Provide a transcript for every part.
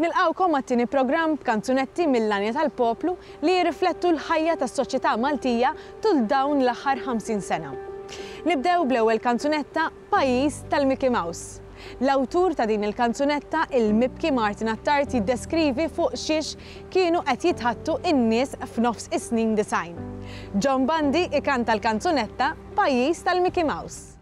Nilqgħukom għat-tieni programm b'kanzunetti mill-għanja tal-poplu li jirriflettu l-ħajja tas-soċjetà Maltija tul dawn l-aħħar 50 sena. Nibdew bl-ewwel kanzunetta Pajjiż tal-Mickey Mouse. L-awtur ta' din il-kanzunetta, il-mibki Martin Attard jiddeskrivi fuq xiex kienu qed jitħaddtu n-nies f'nofs is-snin disgħin. John Bandi ikanta l-kanzunetta Pajjiż tal-Mickey Mouse.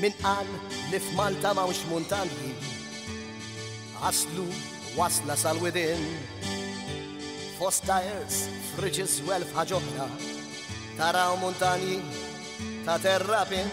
Min qal li f'Malta m'hawnx muntanji Aslu wasla sal-widin Fost tajers, friġis u elf ħaġoħra Taraw muntanji ta' terrapin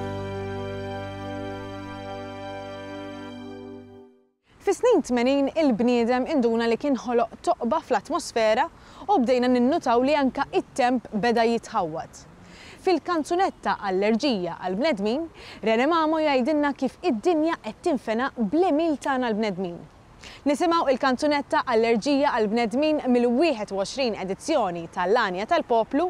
Fis-snin tmenin il-bniedem induna li kien ħoloq toqba fl-atmosfera u bdejna ninnutaw li anke t-temp beda jitħawwad. Fil-kanzunetta Allerġija għall-bnedmin, Rene Mamo jgħidilna kif id-dinja qed tinfena bl-għemil tagħna l-bnedmin. Nisimgħu il-kanzunetta Allerġija għall-bnedmin mill-21 edizzjoni ta' L-Għanja tal-Poplu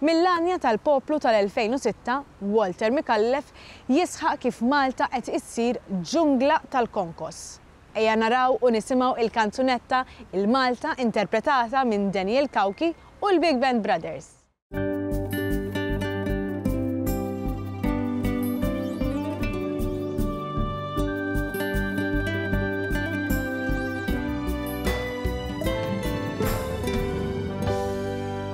Mill-għanja tal-poplu tal-2006, Walter Micallef jisħaq kif Malta qed issir ġungla tal-konkos. Ejja naraw u nisimgħu il-kanzunetta Il-Malta interpretata minn Daniel Cauchi u l-Big Band Brothers.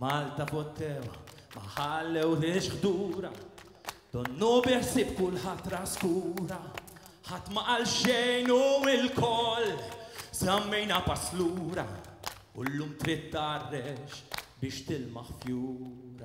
Malta pottewa ma ħallew lix ħdura Donnu biħsib kulħadd traskura Ħadd ma qal xejn u l-koll Zammejna paslura U llum trid tarrex biex tilmaħ fjur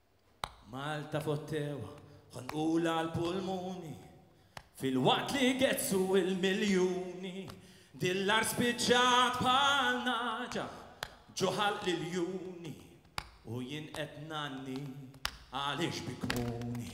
Malta fottewha ħonqulha għall-pulmuni Filwaqt li gezzu il-miljuni Dil-art spiċċat bħal naġa Ġo ħalq l-iljuni U jien qed ngħanni għaliex bi kmuni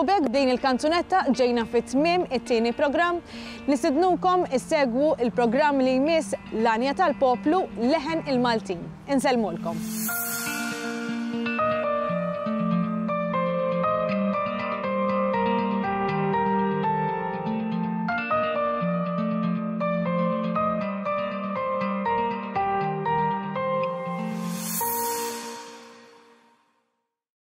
U b'hekk b'din il-kanzunetta ġejna fi tmiem it-tieni programm. Nistidnukom issegwu l-programm li jmiss L-Għanja tal-Poplu, Leħen il-Maltin. Insellmulkom.